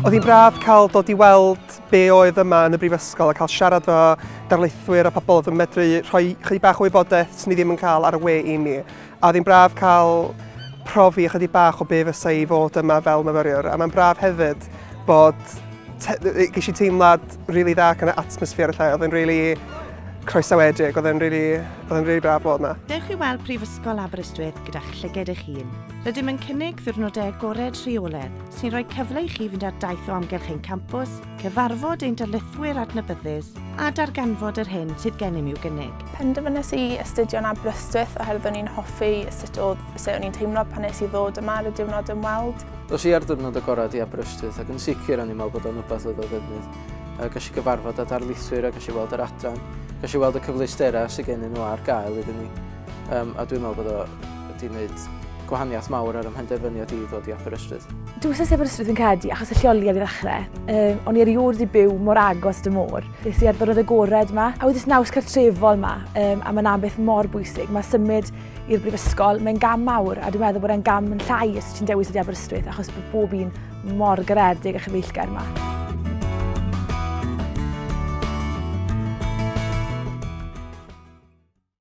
Oedd hi'n braf cael dod i weld be oedd yma yn y brifysgol a cael siarad fo darlithwyr a pobl oedd yn medru rhoi chydig bach o wybodaeth sy'n ni ddim yn cael ar y we i mi. A oedd hi'n braf cael profi ychydig bach o be fysa i fod yma fel myfyriwr a mae'n braf hefyd bod ges i teimlad rili really dda gan y atmosffer y lle, oedd yn rili really croesawedig, oedd yn rili really, really braf bod yma. Dewch i weld Prifysgol Aberystwyth gyda'ch llyged eich hun. Rydym yn cynnig ddiwrnodau agored rheoledd sy'n rhoi cyfle i chi fynd ar daith o amgylch ein campws, cyfarfod ein darlithwyr adnabyddus a darganfod yr hyn sydd gennym i'w gynnig. Penderfynes i astudio'n Aberystwyth oherwydd o'n i'n hoffi sut oedd sut o'n i'n teimlo pan nes i ddod yma ar y diwrnod ymweld. Dos i ar ddiwrnod agored i Aberystwyth ac yn sicr o'n i'n meddwl bod o'n rhywbeth oedd o ddefnydd. Uh, gas i gyfarfod â darlithwyr a gas i weld yr adran. Gas i weld y cyfleusterau sydd gennyn nhw ar gael iddyn ni. Um, a dwi'n meddwl bod o wedi gwneud gwahaniaeth mawr ar y mhenderfyniad i ddod i Aberystwyth. Dwi wrth Aberystwyth yn credu achos y lleoliad i ddechrau. Um, o'n i erioed i byw mor agos dy môr. Nes i ar ddyrod agored yma, a wedi naws cartrefol yma, um, a mae'n beth mor bwysig. Mae symud i'r brifysgol, mae'n gam mawr, a dwi'n meddwl bod e'n gam yn llai os ti'n dewis wedi Aberystwyth, achos bod bob un mor garedig a chyfeillgar yma.